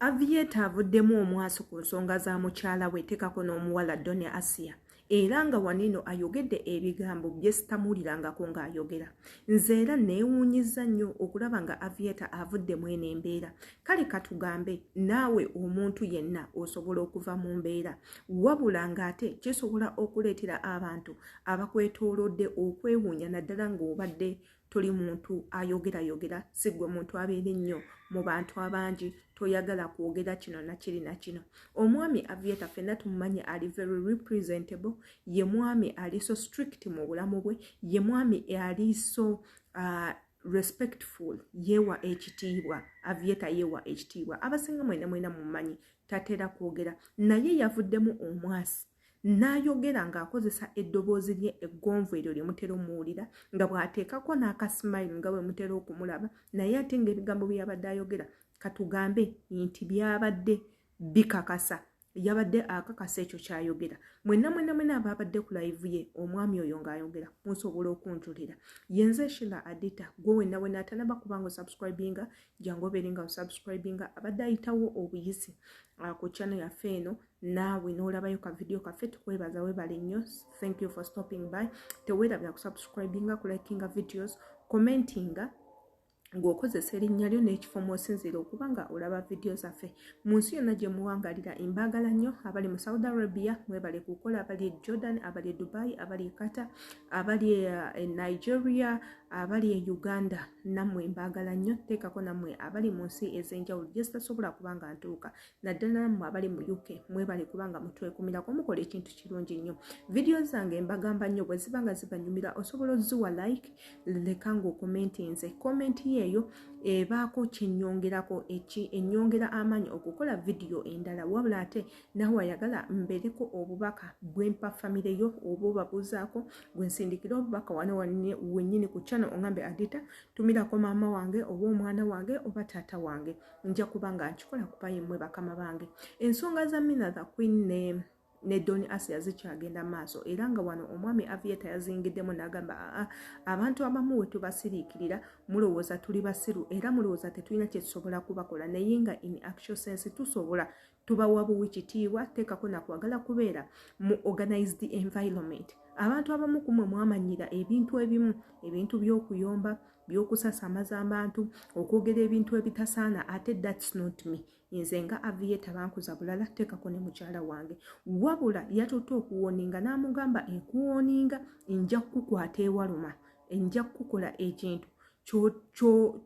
Avieta avuddemu omwaso ku nsonga za mukyala we tekako n'omuwala Doni Asia era nga wanino ayogedde ebigambo bye sitamuulirangako ng'ayogera nze era neewuunyizza nnyo okulaba nga Avieta avudde mu eno embeera kale katugambe naawe omuntu yenna osobola okuva mu mbeera wabula ng'ate kisobola okuleetera abantu abakwetoolodde okwewuunya naddala ng'obadde toli muntu ayogera yogera sigwe muntu abeera ennyo mu bantu abangi toyagala kwogera kino nakiri nakino omwami avieta fenna tumumanyi ali very representable ye mwami ali so strict mu bulamu bwe ye mwami ali so uh, respectful yewa ekitiibwa avieta yewa ekitiibwa abasinga mwena mwena mumanyi tatera kwogera naye yavuddemu omwasi n'ayogera ng'akozesa eddoboozi lye eggonvu eryo lye mutera omuwulira nga bw'ateekako n'akasimayiro nga bwe mutera okumulaba naye ate ng'ebigambo bye yabadde ayogera katugambe nti byabadde bikakasa yabadde akakasa ekyo kyayogera mwena mwena mwena abaabadde ku layivu ye omwami oyo ng'ayogera musobola okunjulira yenze shila adita gwe wena wena atanaba kubanga osubscribinga jangu obeere nga osubscribinga abadde ayitawo obuyisi ah, ku channel yaffe eno naawe n'olabayo ka vidiyo kaffe tukwebaza webale nnyo thank you for stopping by teweerabira kusubscribinga kulikinga videos commentinga ng'okozesa erinnya lyo n'ekifo mw'osinziira okuba nga olaba vidiyo zaffe mu nsi yonna gye muwangalira embaagala nnyo abali mu saudi arabia mwebale kukola abali e jordan abali e dubai abali e qatar abali e, e nigeria abali e uganda nammwe mbaagala nnyo teekako nammwe abali mu nsi ez'enjawulo gye zitasobola kuba nga ntuuka naddala mmwe abali mu uk mwebale kubanga mutwekumirako mukola ekintu kirungi nnyo vidiyo zange mbagamba nnyo bwe ziba nga zibanyumira osobola oziwa like leka ngaokomentinze komenti yeeyo ebaako kyenyongerako eki enyongera amaanyi okukola vidiyo endala wabula ate nawe ayagala mbereko obubaka bwempa famire yo oba obabuuzaako gwensindikira obubaka wano wenyini ku channel ongambe adita tumirako maama wange oba omwana wange oba taata wange nja kuba nga nkikola kuba yemmwe bakama bange ensonga za mina the queen ne ne doni asia zikyagenda maaso era nga wano omwami avieta yazingiddemu nagamba aa abantu abamu we tubasiriikirira mulowooza tuli basiru era mulowooza tetulina kyetusobola kubakola naye nga in actual sense tusobola tobawa buwi kitiibwa teekako nakwagala kubeera mu organized environment abantu abamu kumwe mwamanyira ebintu ebimu ebintu by'okuyomba by'okusasamaza abantu okwogera ebintu ebitasaana ate thats not me nze nga aviyeta bankuza bulala teekako ne mukyala wange wabula yatutte okuwoninga n'amugamba enkuwoninga nja kukukwata ewaluma enja kukukola ekintu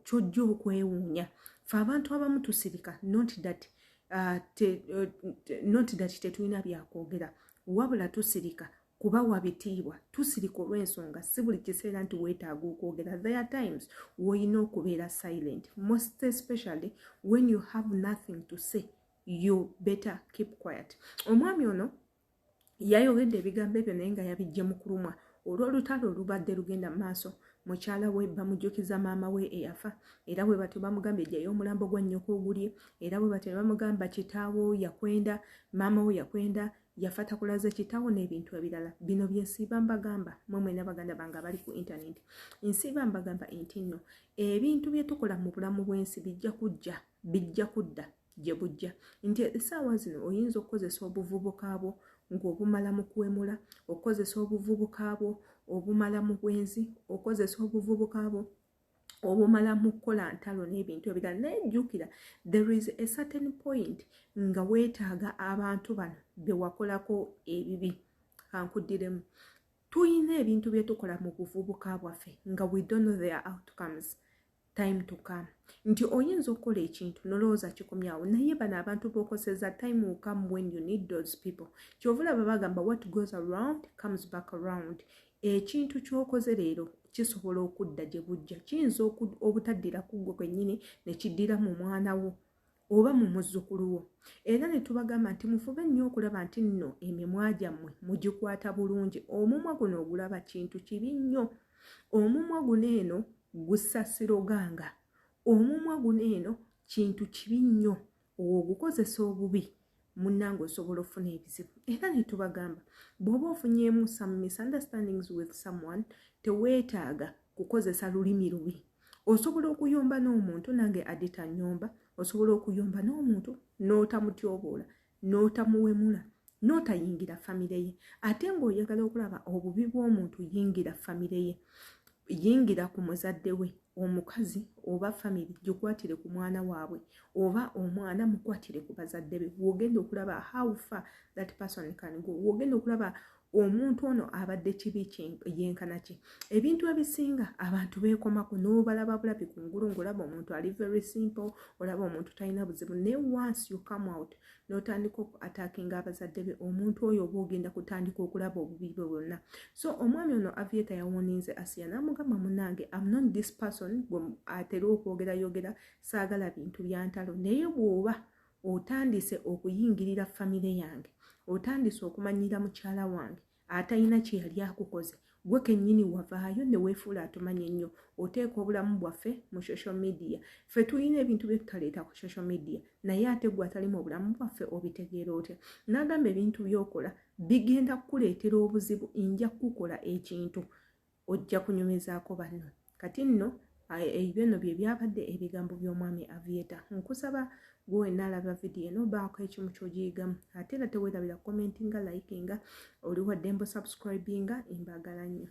kyojja okwewuunya fe abantu abamu tusirika not that kyo, uh, te, uh, te, not that tetulina byakwogera wabula tusirika kuba wabitiibwa tusirika olw'ensonga si buli kiseera nti weetaaga okwogera there times woyina okubeera silent most especially when you have nothing to say you better keep quiet omwami ono yayogedde ebigambo ebyo naye nga yabijje mu kulumwa olw'olutalo olubadde lugenda mu maaso mukyala we bamujjukiza maama we eyafa era bwe batyo bamugambye jayo omulambo gwa nnyoko ogulye era bwe batyo ne bamugamba kitaawo yakwenda maama wo yakwenda yafa takulaze kitaawo n'ebintu ebirala bino bye nsiiba mbagamba mwe mwena baganda bange abali ku intaneti nsiiba mbagamba enti nno ebintu bye tukola mu bulamu bw'ensi bijja kujja bijja kudda gye bujja nti essaawa zino oyinza okukozesa obuvubuka bwo ng'obumala mu kuwemula okukozesa obuvubuka bwo obumala mu bwenzi okukozesa obuvubuka bwo obumala mu kukola ntalo n'ebintu ebirala naye jjukira there is a certain point nga weetaaga abantu bano be wakolako ebibi kankuddiremu tulina ebintu bye tukola mu buvubuka bwaffe nga we don't know their outcomes time to come nti oyinza okukola ekintu nolowooza kikomyawo naye bano abantu bokoseza time will come when you need those people kyovulaba bagamba what goes around comes back around ekintu kyokoze leero kisobola okudda gye bujja kiyinza obutaddira kuggwe kwennyini ne kiddiramu omwana wo oba mu muzzukulu wo era ne tubagamba nti mufube nnyo okulaba nti nno emimwa gyammwe mugikwata bulungi omumwa guno ogulaba kintu kibi nnyo omumwa guno eno gusasiroganga omumwa guno eno kintu kibi nnyo ogukozesa obubi munnange osobola ofuna ebizibu era netubagamba bwoba ofunyemu some misunderstandings with someone teweetaaga kukozesa lulimi lubi osobola okuyomba n'omuntu nange adita nyomba osobola okuyomba n'omuntu n'otamutyoboola n'otamuwemula n'otayingira famire ye ate ng'oyagala okulaba obubi bw'omuntu yingira famire ye yingira ku muzadde we omukazi oba famiry gikwatire ku mwana waabwe oba omwana mukwatire ku bazadde be wogenda okulaba how far that person can go wogenda okulaba omuntu ono abadde kibi yenkana ki ebintu ebisinga abantu beekomako n'obalaba bulabi ku ngulu ngaolaba omuntu ali very simple olaba omuntu talina buzibu naye once you come out notandika oku attackinga abazadde be omuntu oyo oba ogenda kutandika okulaba obubi bwe bwonna so omwami ono avieta yawoninze asiya namugamba munange am not this person gwe atera okwogera yogera saagala bintu byantalo naye bwoba otandise okuyingirira famire yange otandise okumanyira mukyala wange atalina kye yali akukoze gwe kennyini wavaayo ne weefuula atumanya ennyo oteeka obulamu bwaffe mu social media ffe tulina ebintu bye tutaleeta ku social media naye ate gwe atali mu bulamu bwaffe obitegeera otya n'agamba ebintu by'okola bigenda kukuleetera obuzibu nja kukukola ekintu ojja kunyumizaako banno kati nno ebyo nno bye byabadde ebigambo by'omwami avieta nkusaba gwe wenna alaba vidiyo eno baako ekimu kyogiyigamu ate era tewerabira commentinga likinga oliwadde mbu subscribinga embagala nnyo